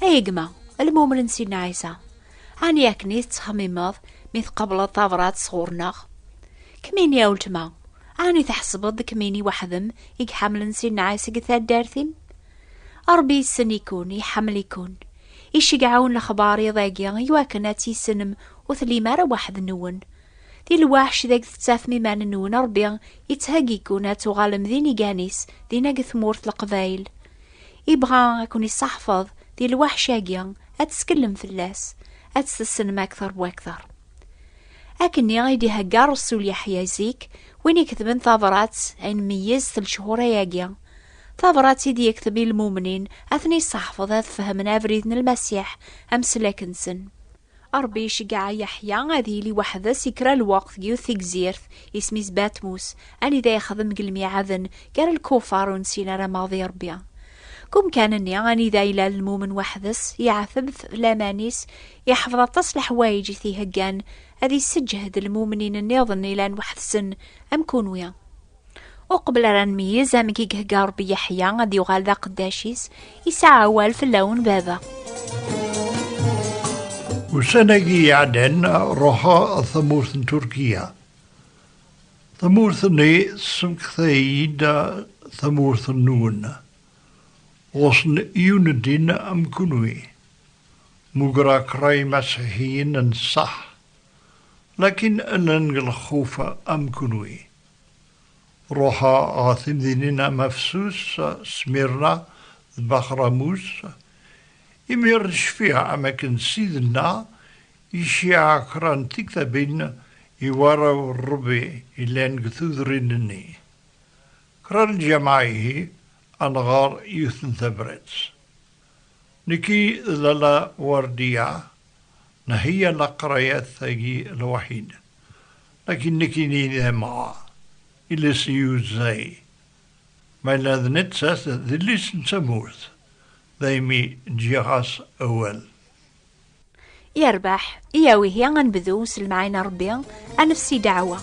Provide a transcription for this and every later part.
Ay gma, lmumel n Sidna Ɛisa, ɛni akken i tettxemmimeḍ mi tqableḍ tabrat sɣur-neɣ? Kmini a weltma, ɛni tḥesbeḍ d kmini waḥdem i iḥemmlen Sidna Ɛisa deg taddart-im? Ṛebbi yessen-ikun, iḥemmel-ikun. Iceggeɛ-wen lexbar iḍ-agi i wakken ad tt-issenem ur tellim ara waḥd-nwen. Di lweḥc deg tettafem iman-nwen Ṛebbi yettheggi-kun ad tuɣalem d inigan-is dinna deg tmurt Leqbayel. Ibɣa ad ken-isseḥfeḍ di lwaḥc-agi, ad teskellem fell-as, ad tessnem akteṛ bu akteṛ. Akken-nni i d-ihegga Ṛesul Yeḥya zik, win iketben tabrat ay nmeyyez s lechur-agi, tabrat i d-yekteb i lmumnin, ad ten-isseḥfeḍ ad fehmen abrid n Lmasiḥ, ameslak-nsen. Ṛebbi iceggeɛ Yeḥya ad yili weḥd-s i kra n lweqt deg yiwet tegzirt, isem-is Batmus, anida yexdem deg lmiɛaden gar lkufar ur nessin ara maɣ d Iṛebbi. Deg umkan-nni anida yella lmumen weḥd-s, yeɛteb f laman-is, iḥfeḍ aṭas n leḥwayeǧ i t-iheggan ad isseǧhed lmumnin nniḍen ilan weḥd-sen am kunwi. Uqbel ara nmeyyez amek i ihegga Ṛebbi Yeḥya ad yuɣal d aqeddac-is, isɛa awal fell-awen baba. Ussan-agi iɛeddan ruḥeɣ ɣer tamurt n Turkiya. Tamurt-nni tessemekta-iyi-d tamurt-nwen. Ɣuṣṣen yiwen n ddin am kunwi. Mmugreɣ kraḍ yimasiḥiyen n ṣṣeḥ, lakin llan deg lxuf am kunwi. Ruḥeɣ ɣer temdinin am Afsus, Smirna d Baxramus. Imir cfiɣ am akken Sidna iciɛa kra n tiktabin i warraw n Rebbi yellan deg tudrin-nni. Kra n lǧameɛ ihi ad nɣer yiwet n tabrat. Nekki d Lalla Werdiya nheyya laqrayat-agi lwaḥid, lakin nekkini d amɣa, iles yuzzay, ma yella d nettat d llis n tamurt, daymi ǧǧiɣ-as awal. Yerbeḥ, iyaw ihi ad nebdu s lemɛayna Rebbi, ad nefsi ddeɛwa.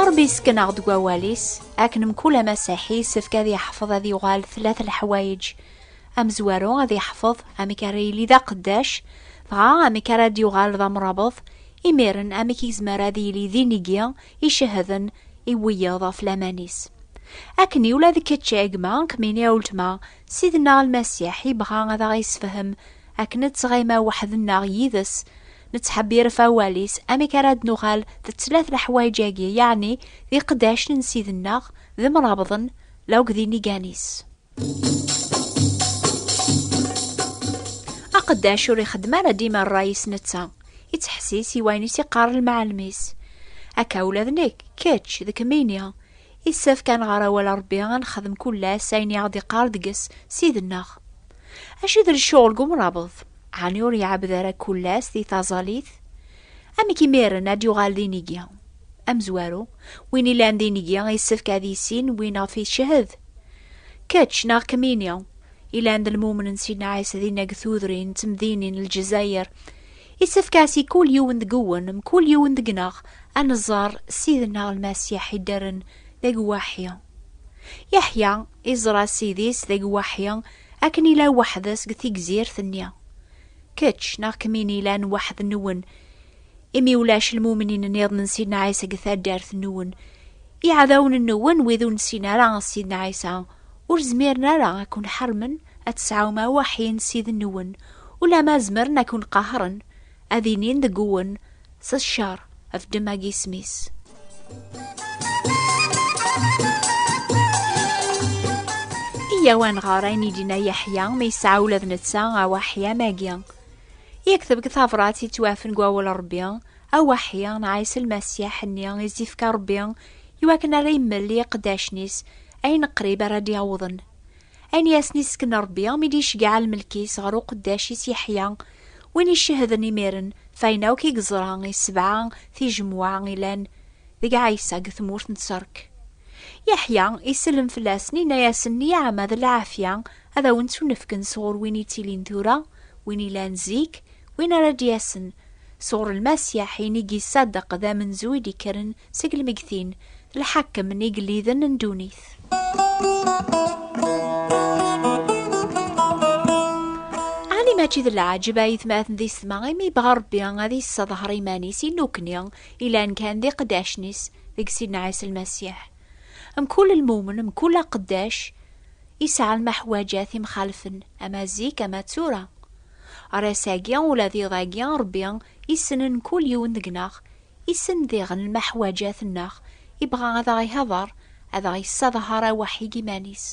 Rebbi yessken-aɣ deg wawal-is, akken mkul amasaḥ yessefk ad yeḥfeḍ ad yuɣal tlata leḥwayeǧ. Amezwaru ad yeḥfeḍ amek ara yili d aqeddac, dɣa amek ara d-yuɣal d amrabeḍ, imiren amek i yezmer ad yili d inigi icehden i wiyeḍ ɣef laman-is. Akken-i ula d kečč a gma, kemmini a weltma, Ssid-nneɣ Lmasiḥ yebɣa ad aɣ-yessefhem akken ad ttɣima weḥd-nneɣ yid-s, nettḥebbir ɣef awal-is, amek ara d-nuɣal d ttlata leḥwayeǧ-agi, yeɛni d iqeddacen n Ssid-nneɣ, d imrabḍen, lawk d inigan-is. Aqeddac ur ixeddem ara dima rray-is netta, ittḥessis i wayen i s-iqqar lmɛalem-is. Akka ula d nekk, kečč, d kemmini. Yessefk ad nɣer awal a Rebbi, ad nexdem kul ass ayen i aɣ-d-iqqar deg-s Ssid-nneɣ. Acu i d lecɣel deg umrabeḍ? Ɛni ur iɛebbed ara kul ass di taẓalit? Amek imiren ad d-yuɣal d inigi? Amezwaru, win ilan d inigi yessefk ad yissin win ɣef icehhed. Kečč neɣ kemmini, ilan d lmumen n Sidna Ɛisa dinna deg tudrin d temdinin n Lezzayer, Isefk-as i kul yiwen deg-wen, mkul yiwen deg-neɣ, ad neẓẓar Ssid-nneɣ Lmasiḥ i d-rren d agwaḥi. Yeḥya iẓra Ssid-is d agwaḥi akken ila weḥd-s deg tigzirt-nni. Kečč neɣ kemmini ilan weḥd-nwen, imi ulac lmumnin-nniḍen n Sidna Ɛisa deg taddart-nwen. Iɛdawen-nwen, wid ur nessin ara Sidna Ɛisa, ur zmiren ara ad ken-ḥermen ad tesɛum awaḥin s iden-nwen, ulamma zemren ad ken-qahren, ad inin deg uwen, s ccer, ɣef ddemma n yisem-is. Yyaw ad nɣer ayen i d-yenna Yeḥya mi yesɛa ula d netta awaḥi am wagi. Yekteb deg tabṛat yettwafen deg wawal n Ṛebbi, Awaḥi nɛayes Lmasiḥ nni i s-d-ifka Rebbi i wakken ara yemmel i iqeddacen-is ayen qrib ara d-yawḍen. Ayen i asen-isken Rebbi mi d-iceggeɛ lmelk-is ɣer uqeddac-is Yeḥya, win icehden imiren f ayen akk i yeẓra i sebɛa tijemwa ilan deg Ɛisa deg tmurt n Ṣṣerk. Yeḥya isellem fell-asen inna-yasen Nniɛama d lɛafya ad awen-ttunefken sɣur win ittilin tura, win ilan zik, Win ara d-yasen sɣur Lmasiḥ i nigi Ṣṣadeq d amenzu i d-ikkren seg lmegtin, d lḥakem n igelliden n ddunit. Ɛni mačči d leɛǧeb a yetmaten d isetma imi yebɣa Ṛebbi ad yesseḍher iman-is i nukni ilan kan d iqeddacen-is deg Sidna Ɛisa Lmasiḥ? Mkul lmumen, mkul aqeddac, yesɛa lmeḥwaǧat imxalfen, ama zik ama d tura. Ar ass-agi, ula d iḍ-agi, Ṛebbi issen mkul yiwen deg-neɣ, issen diɣen lmeḥwaǧat-nneɣ, ibɣa ad aɣ-ihḍeṛ, ad aɣ-yessadhar aweḥḥi deg iman-is.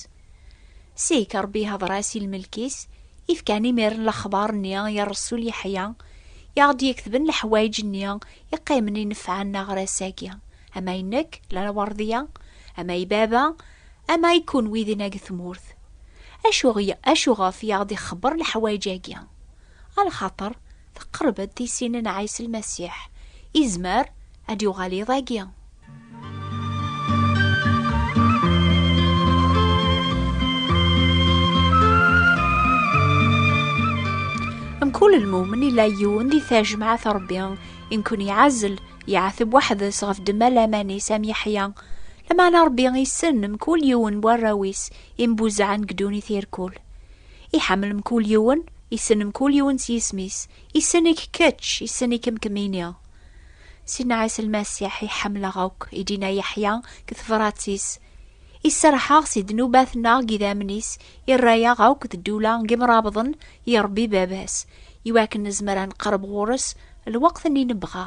Seg-k, Ṛebbi ihḍeṛ-as i lmelk-is, ifkan imiren lexbaṛ-nni i ṛṛsul Yeḥya, i aɣ-d-yeketben leḥwayeǧ-nni iqqimen inefɛen aɣ-ṛ ass-agi, ama i nekk, lɛawaṛḍi-a, ama i baba, Ama i kunwi dinna deg tmurt, acu, acuɣef i aɣ-d-ixebber leḥwayeǧ-agi? Alxaṭer teqreb-d tisin n Ɛisa Lmasiḥ, izmer ad d-yuɣal iḍ-agi. Mkul lmumen ila yiwen di tajmaɛt Ṛebbi i nkun-iɛzel, iɛateb weḥd-s ɣef ddemma laman-is am Yeḥya, Lameɛna Ṛebbi issen mkul yiwen n warraw-is imbuzaɛen deg ddunit irkul. Iḥemmel mkul yiwen, issen mkul yiwen s yisem-is, issen-ik kečč, issen-ikem kemmini. Sidna Ɛisa Lmasiḥ i ḥemmleɣ akk, i d-inna Yeḥya deg tebṛat-is, Iserreḥ-aɣ si ddnubat-nneɣ deg idammen-is, irra-aɣ akk d ddula n yemṛabḍen i Ṛebbi Baba-s, i wakken nezmer ad neqreb ɣur-s lweqt-nni nebɣa.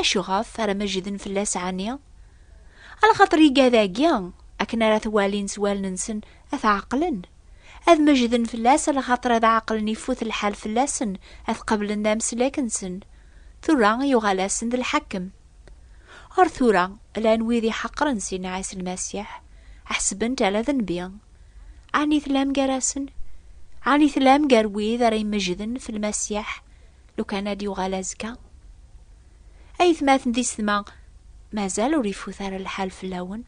Acu ɣef ara meǧden fell-as ɛni? Alxaṭer igad-agi, akken ara t-walin s wallen-nsen, ad t-ɛeqlen. Ad meǧden fell-as, alxaṭer ad ɛeqlen ifut lḥal fell-asen, ad qeblen d ameslak-nsen. Tura yuɣal-asen d lḥakem. Ar tura, llan wid iḥeqren Sidna Ɛisa Lmasiḥ, ḥesben-t ala d nnbi. Ɛni tellam gar-asen? Ɛni tellam gar wid ara imeǧden f Lmasiḥ? lukan ad yuɣal azekka aytmaten di setma mazal ur ifut ara lḥal fell-awen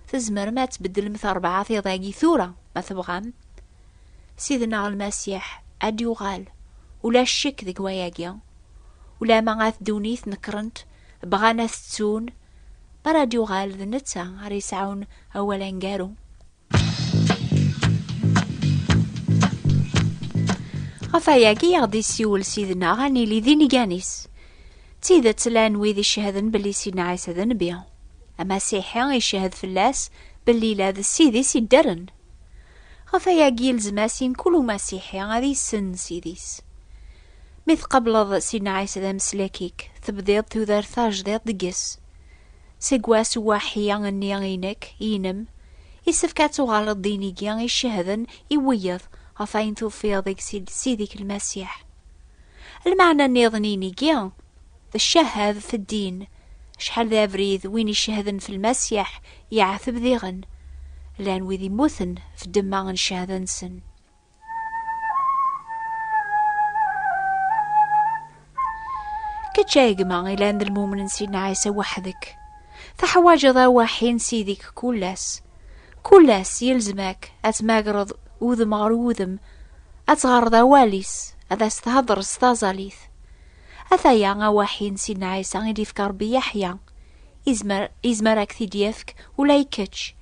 tzemrem ad tbeddlem terbɛa tiḍagi tura ma tebɣam sidneɣ lmasiḥ ad yuɣal ula ccek deg wayagi ula ma ad ddunit nekrent bɣan ad tettun mi ara d-yuɣal d netta ara yesɛun awal aneggaru Ɣef ayagi aɣ-d isiwel sidna ad nili d inigan-is. D tidet llan wid icehden belli sidna Ɛisa d nnbi. Amasiḥi icehed fell-as belli la d ssid-is idderen. Ɣef ayagi ilzem-as i mkul umasiḥi ad yessen ssid-is. Mi tqableḍ sidna Ɛisa d ameslak-ik, tebdiḍ tudert tajdiḍt deg-s. Seg wass uaḥi nni i nekk, inem, isefk ad tuɣaleḍ d inigi icehden i wiyeḍ ɣef ayen tufiḍ deg Sidi-k Lmasiḥ. Lmeɛna nniḍen n inigi, d ccahadet n ddin, acḥal d abrid win icehden f Lmasiḥ yeɛteb diɣen, llan wid immuten f ddemma n cehda-nsen. Kečč ay gma ilan d lmumen n Sidna Ɛisa weḥd-k. Teḥwajeḍ awaḥi n Sidi-k kul ass. Kul ass yelzem-ak ad tmagreḍ udem ɣer udem, ad tɣerreḍ awal-is, ad as-thedreḍ s taẓalit. Ataya awaḥi n Sidna Ɛisa i d-yefka Rebbi Yeḥya. Izmer, izmer ad k-t-id-yefk ula i kečč.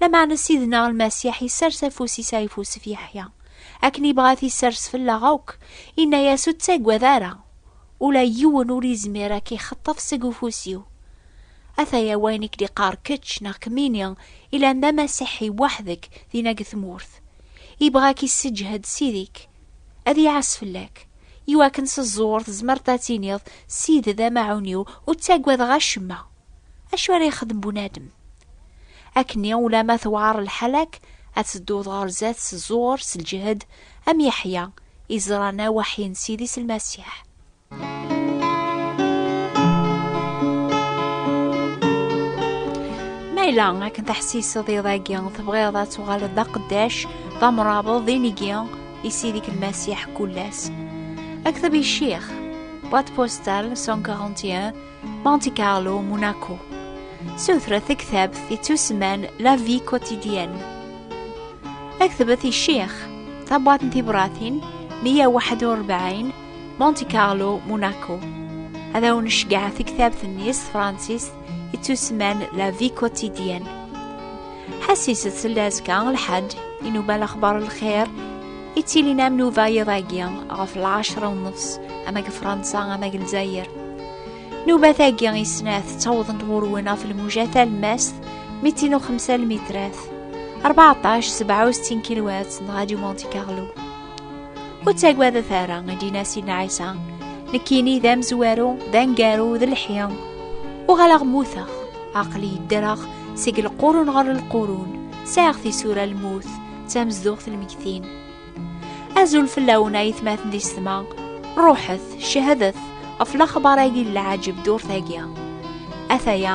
Lameɛna Sidna Lmasiḥ isers afus-is ayeffusef Yeḥya, akken ibɣa ad isers fell-aɣ akk, inna-yas ur ttagad ara, ula yiwen ur izmir ad k-ixeṭṭef seg ufus-iw. Ataya wayen i k-d-iqqar kečč neɣ kemmini ilan d amasiḥi weḥd-k dinna deg tmurt. Ibɣa ad k-isseǧhed Sidi-k, ad iɛas fell-ak, iwakken s ẓẓur tzemreḍ ad tiniḍ, Sidi d amaɛun-iw, ur ttagadeɣ acemma. Acu ara yexdem bunadem? Akkenni ulamma tewɛer lḥala-k, ad tedduḍ ɣer zdat s ẓẓur, s lǧehd, am Yeḥya, i ẓran awaḥi n Sidi s Lmasiḥ. Ma yella akken teḥsiseḍ iḍ-agi, tebɣiḍ ad tuɣaleḍ d aqeddac, d amrabeḍ, d inigi, i Sidi-k Lmasiḥ kul ass. Akteb i Ccix, boîte postale 141, Monte Carlo, Monaco. Sutret taktabt yettusemman La Vie Quotidienne. Aktbet i Ccix, tabwaḍt n tibratin 141, Monte Carlo, Monaco. Ad awen-necgeɛ taktabt-nni s tefransist yettusemman La Vie Quotidienne. Ḥassiset tella azekka lḥaǧ i nuba lexbar lxir i ttilin am nuba yiḍ-agi ɣef lɛecra nnefs ama deg Fransa ama deg Lezzayer. Nuba tagi i snat ttawḍent ɣur-wen ɣef lmuja talmast mi ttin uxemsa lmitrat, 14 67 kilwat neɣ aju Monte Carlo. Ur ttagadet ara, i d-yenna Sidna Ɛisa, nekkini d amezwaru, d angaru, d lḥi. Uɣaleɣ mmuteɣ, aqli yeddreɣ seg lqurun ɣer lqurun, sɛiɣ tisura lmut, d tamezduɣt lmegtin. Azul fell-awen ay tmaten di ssma, ruḥet, cehdet ɣef laxbar-agi n lɛajeb durt-agi. Ataya,